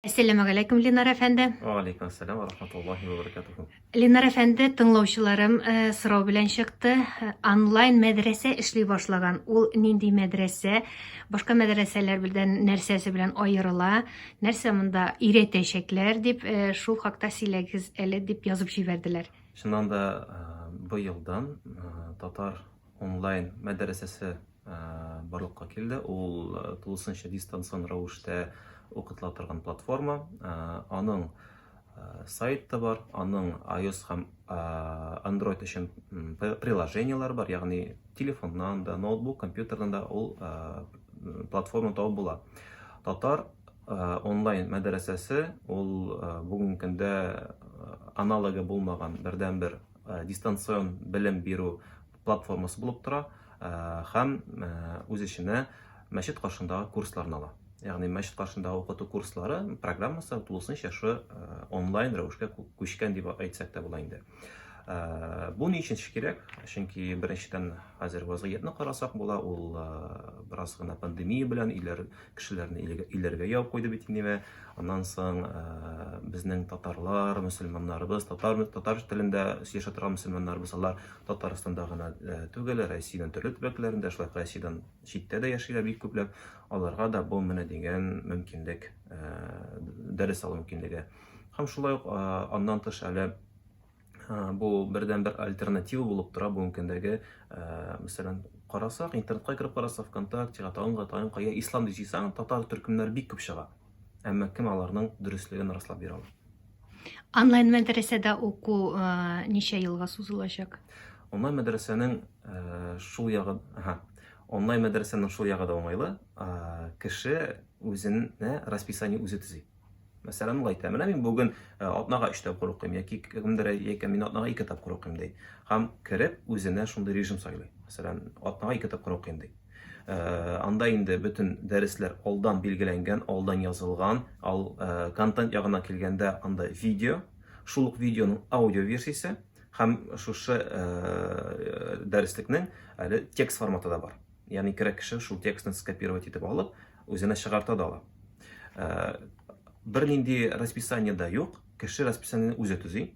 Әссәламу галәйкүм, Ленар әфәнде. Ва алейкум ассәлам ва рахматуллахи ва баракатуху. Ленар әфәнде, тыңлаучыларым э, сорау белән чыкты. Онлайн мәдрәсә эшли башлаган. Ул нинди мәдрәсә? Башка мәдрәсәләр белән нәрсәсе белән аерыла? Нәрсә монда өйрәтәчәкләр дип э, шул хакта сөйләгез әле дип язып җибәрделәр. Чыннан да э, быелдан э, татар онлайн мәдрәсәсе барлыкка килде. Ул тулысынча дистанцион рәвештә укытыла торган платформа. Аның сайт та бар, аның iOS һәм Android өчен приложениеләр бар, ягъни телефоннан да, ноутбук, компьютердан да ул платформа табып була. Татар онлайн мәдрәсәсе ул бүгенге көндә аналогы булмаган бердәнбер дистанцион белем бирү платформасы булып тора һәм үз эченә мәчет каршындагы курсларны ала. Ягъни мәчет каршындагы укыту курслары программасы тулысынча шы онлайн рәвешкә күчкән дип әйтсәк тә була инде. Бу ни өчен кирәк? Чөнки беренчедән хәзер вазгыятьне карасак була, ул бераз гына пандемия белән иләр кешеләрне иләргә яу куйды бит инде мә. Аннан соң э, безнең татарлар, мөселманнарыбыз, татар татар телендә сөйләшә торган мөселманнарыбыз алар Татарстанда гына э, түгел, Россиянең төрле төбәкләрендә, шулай Россиядән читтә дә яшиләр бик күпләп. Аларга да бу менә дигән мөмкинлек, э, дәрес алу мөмкинлеге. Һәм шулай ук аннан тыш әле бу бердән бер альтернатива булып тора бүгенге көндәге мәсәлән карасак интернетка кереп карасак вконтактега тагынга тагын кая ислам дип җыйсаң татар төркемнәр бик күп чыга әмма кем аларның дөреслеген раслап бирә ала онлайн мәдрәсәдә уку ничә елга сузылачак онлайн мәдрәсәнең шул ягы онлайн мәдрәсәнең шул ягы да уңайлы кеше үзенә расписание үзе төзи Мәсәлән, ул әйтә, менә мин бүген э, атнага өч тапкыр укыйм, яки кемдер әйтә, мин атнага ике тапкыр укыйм ди. Һәм кереп үзенә шундый режим сайлый. Мәсәлән, атнага ике тапкыр укыйм ди. Э, анда инде бөтен дәресләр алдан билгеләнгән, алдан язылган. Ал э, контент ягына килгәндә анда видео, шул ук видеоның аудио версиясе һәм шушы дәреслекнең әле текст форматы да бар. Ягъни кирәк кеше шул текстны скопировать итеп алып, үзенә чыгарта да ала. Э, Бернинди расписание да юк, кеше расписаниене үзе төзи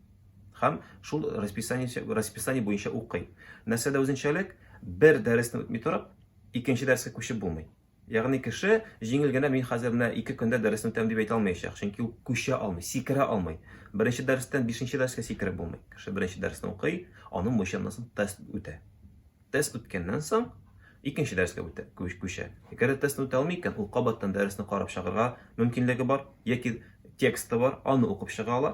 һәм шул расписание, расписание буенча укый. Нәрсәдә үзенчәлек? Бер дәресне үтми торып, икенче дәрескә күчеп булмый. Ягъни кеше җиңел генә мин хәзер менә ике көндә дәресне үтәм дип әйтә алмаячак, чөнки ул күчә алмый, сикерә алмый. Беренче дәрестән бишенче дәрескә сикереп булмый. Кеше беренче дәресне укый, аның буенча тест үтә. Тест үткәннән соң, икенче дәрескә үтә, күчә. Әгәр дә тестны үтә алмый икән, ул кабаттан дәресне карап чыгарга мөмкинлеге бар, яки тексты бар, аны укып чыга ала,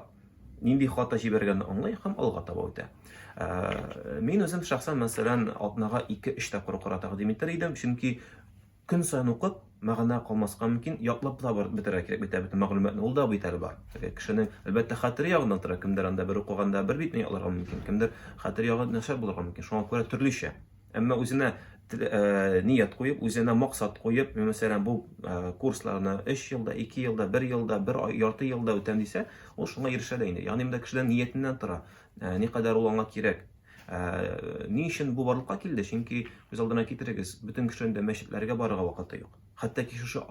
нинди хата җибәргәнне аңлый һәм алга таба үтә. Ә, мин үзем шәхсән, мәсәлән, атнага 2-3 тапкыр укырга тәкъдим итер идем, чөнки Көн саен укып, мәгънә калмаска мөмкин, ятлап та барып бетерергә кирәк бит, ә бөтен мәгълүматны ул да бит әле бар. Теге кешенең, әлбәттә, хәтере ягыннан тора, кемдер анда бер укыганда бер битне ятларга мөмкин, кемдер хәтер ягы начар булырга мөмкин, шуңа күрә төрлечә. Әмма үзенә ният куеп, үзенә максат куеп, мин, мәсәлән, бу курсларны өч елда, ике елда, бер елда, бер ярты елда үтәм дисә, ул шуңа ирешә дә инде. Ягъни монда кешенең ниятеннән тора, никадәр ул аңа кирәк. Ә, ни өчен бу барлыкка килде? Чөнки күз алдына китерегез, бөтен кешенең дә мәчетләргә барырга вакыты юк. Хәтта ки шушы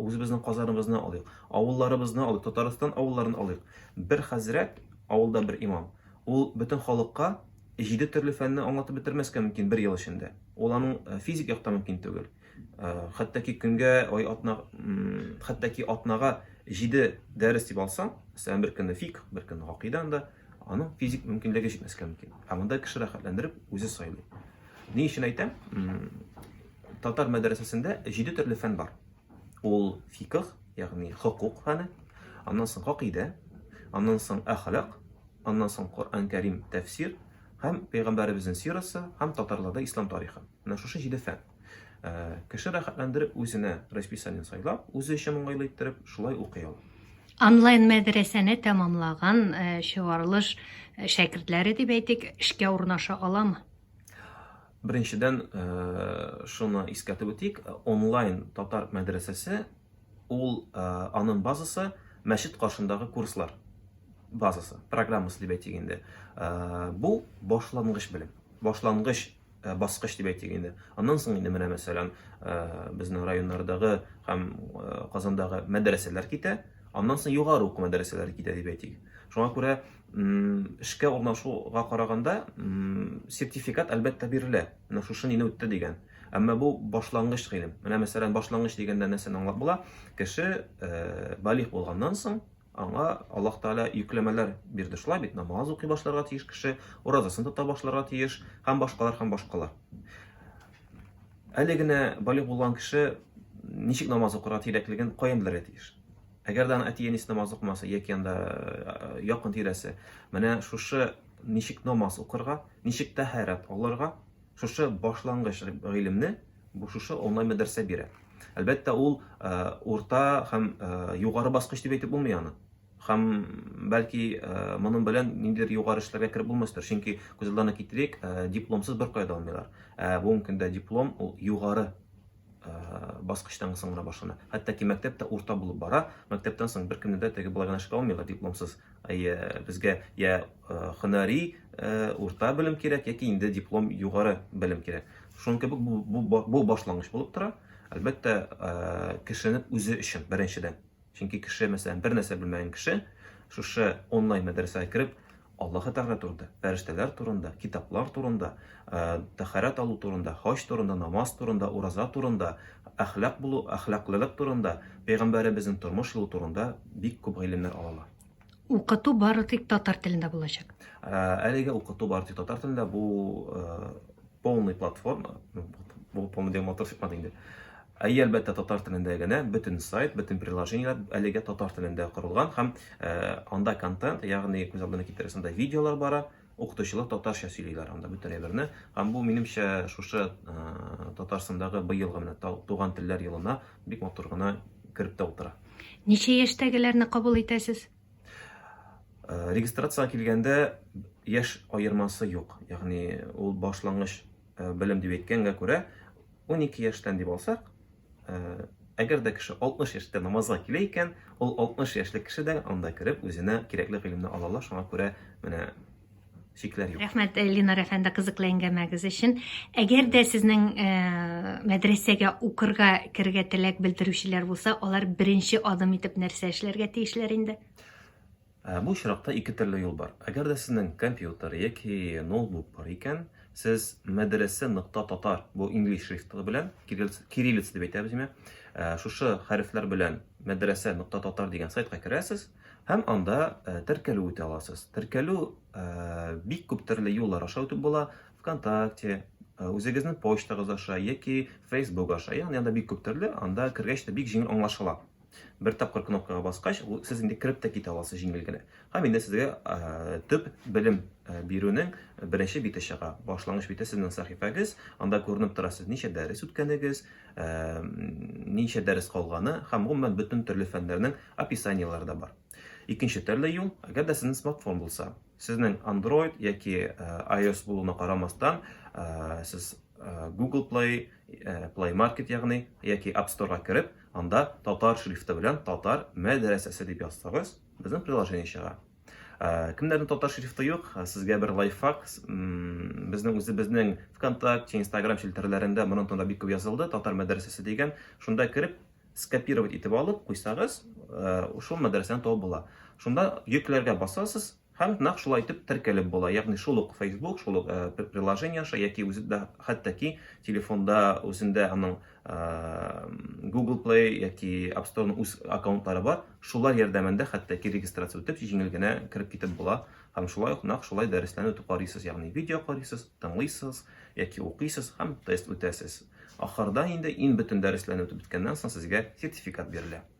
үзебезнең казаныбызны алыйк, авылларыбызны алыйк, Татарстан авылларын алыйк. Бер хәзрәт, авылда бер имам, ул бөтен халыкка җиде төрле фәнне аңлатып бетермәскә мөмкин бер ел эчендә. Ул аның э, физик яктан мөмкин түгел. Э, хәтта ки көнгә, ай атна, хәтта ки атнага җиде дәрес дип алсаң, мәсәлән, бер көнне фик, бер көнне гакыйда анда, Аның физик мөмкинлеге җитмәскә мөмкин. Ә монда кеше рәхәтләндереп үзе сайлый. Ни өчен әйтәм? Татар мәдрәсәсендә җиде төрле фән бар. Ул фикх, ягъни хокук фәне, аннан соң хакыйдә, аннан соң әхлак, аннан соң Коръән Кәрим тәфсир һәм пәйгамбәребезнең сирасы һәм татарларда ислам тарихы. Менә шушы җиде фән. Кеше рәхәтләндереп үзенә расписание сайлап, үзе өчен уңайлы иттереп, шулай укый ала. Онлайн мәдрәсәне тәмамлаган чыгарылыш шәкертләре дип әйтик, эшкә урнаша аламы? Беренчедән, шуны искәртеп үтик, онлайн татар мәдрәсәсе ул аның базасы мәчет каршындагы курслар базасы, программасы дип әйтик инде. Бу башлангыч белем, башлангыч Э, баскыч дип әйтик инде аннан соң инде менә мәсәлән э, безнең районнардагы һәм э, казандагы мәдрәсәләр китә аннан соң югары уку мәдрәсәләре китә дип әйтик шуңа күрә эшкә урнашуга караганда сертификат әлбәттә бирелә менә шушы нине үтте дигән әмма бу башлангыч гыйлем менә мәсәлән башлангыч дигәндә нәрсәне аңлап була кеше балигъ булганнан соң Аңа Аллаһ Тәгалә йөкләмәләр бирде. Шулай бит, намаз укый башларга тиеш кеше, уразасын тота башларга тиеш, һәм башкалар, һәм башкалар. Әле генә балигъ булган кеше ничек намаз укырга тирәклеген каян белергә тиеш? Әгәр дә аны әти-әнисе намаз укымаса, яки анда э, якын тирәсе, менә шушы ничек намаз укырга, ничек тәһарәт алырга, шушы башлангыч гыйлемне бу шушы онлайн мәдрәсә бирә. Әлбәттә, ул э, урта һәм э, югары баскыч дип әйтеп булмый аны. Һәм бәлки э, моның белән ниндидер югары эшләргә кереп булмастыр, чөнки күз алдына китерик, дипломсыз бер кая да алмыйлар. Ә бүгенге көндә диплом ул югары баскычтан соң гына башлана. Хәтта ки мәктәп тә урта булып бара. Мәктәптән соң беркемне дә теге болай гына эшкә алмыйлар дипломсыз. Әйе, безгә я һөнәри урта белем кирәк, яки инде диплом югары белем кирәк. Шуның кебек бу бу башлангыч булып тора. Әлбәттә, кешенең үзе өчен беренчедән Чөнки кеше, мәсәлән, бер нәрсә белмәгән кеше шушы онлайн мәдрәсәгә кереп, Аллаһы Тәгалә турында, фәрештәләр турында, китаплар турында, э, тәхәрәт алу турында, хаҗ турында, намаз турында, ураза турында, әхлак булу, әхлаклылык турында, пәйгамбәребезнең тормыш юлы турында бик күп гыйлемнәр ала. Укыту бары тик татар телендә булачак. Әлеге укыту бары тик татар телендә бу полный платформа, ну, бу полный дигән матур чыкмады инде. Ә әлбәттә татар телендә генә бөтен сайт, бөтен приложениеләр әлегә татар телендә корылган һәм анда контент, ягъни күз алдына китерәсендә видеолар бара, Укытучылар татарча сөйлиләр анда бөтен әйберне. Һәм бу минемчә шушы Татарстандагы быелгы менә туган телләр елына бик матур гына кереп тә утыра. Ничә яшьтәгеләрне кабул итәсез? Регистрация килгәндә яшь аермасы юк. Ягъни ул башлангыч белем дип әйткәнгә күрә 12 яшьтән дип алсак, Әгәр дә кеше 60 яшьтә намазга килә икән, ул 60 яшьлек кеше дә анда кереп үзенә кирәкле гыйлемне ала ала, шуңа күрә менә шикләр юк. Рәхмәт э, Ленар әфәнде кызыклы әңгәмәгез өчен. Әгәр дә сезнең э, мәдрәсәгә укырга керергә теләк белдерүчеләр булса, алар беренче адым итеп нәрсә эшләргә тиешләр инде? Ә бу очракта ике төрле юл бар. Әгәр дә сезнең компьютер яки ноутбук бар икән, сез мәдрәсә нокта татар бу инглиз шрифты белән, кириллица дип әйтәбез име, ә, шушы хәрефләр белән мәдрәсә нокта татар дигән сайтка керәсез һәм анда ә, теркәлү үтә аласыз. Теркәлү ә, бик күп төрле юллар аша үтеп була. ВКонтакте, Э, үзегезнең почтагыз аша яки Facebook аша, ягъни анда бик күп төрле, анда кергәч тә бик җиңел аңлашыла. Бер тапкыр кнопкага баскач, сез инде кереп тә китә аласыз җиңел генә. Һәм инде сезгә э, төп белем э, бирүнең беренче бите чыга. Башлангыч бите сезнең сәхифәгез, анда күренеп тора сез ничә дәрес үткәнегез, э, ничә дәрес калганы һәм гомумән бөтен төрле фәннәрнең описаниеләре дә бар. Икенче төрле юл, әгәр дә сезнең смартфон булса, сезнең Android яки э, iOS булуына карамастан, э, сез э, Google Play, Play Market ягъни яки App Store-га кереп, Анда татар шрифты белән татар мәдрәсәсе дип язсагыз, безнең приложение чыга. Ә, кемнәрнең татар шрифты юк, ә, сезгә бер лайфхак. Безнең үзебезнең ВКонтакте, Инстаграм челтәрләрендә моның турында бик күп язылды, татар мәдрәсәсе дигән. Шунда кереп, скопировать итеп алып куйсагыз, ә, шул мәдрәсәне табып була. Шунда йөкләргә басасыз, Һәм нәкъ шулай итеп теркәлеп була, ягъни шул ук Facebook, шул ук приложение аша яки үзе дә хәтта ки телефонда үзендә аның Google Play яки App Store-ның үз аккаунтлары бар, шулар ярдәмендә хәтта ки регистрация үтеп җиңел генә кереп китеп була. Һәм шулай ук нәкъ шулай дәресләрне үтеп карыйсыз, ягъни видео карыйсыз, тыңлыйсыз яки укыйсыз һәм тест үтәсез. Ахырда инде иң бөтен дәресләрне үтеп беткәннән соң сезгә сертификат бирелә.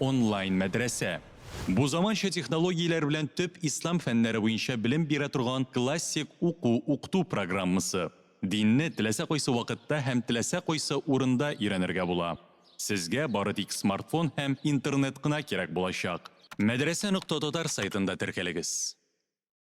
Онлайн мәдрәсә. Бу заманча технологияләр белән төп ислам фәннәре буенча белем бирә торган классик уку-укыту программасы. Динне теләсә кайсы вакытта һәм теләсә кайсы урында өйрәнергә була. Сезгә бары тик смартфон һәм интернет кына кирәк булачак. Мәдрәсә нокта татар сайтында теркәлегез.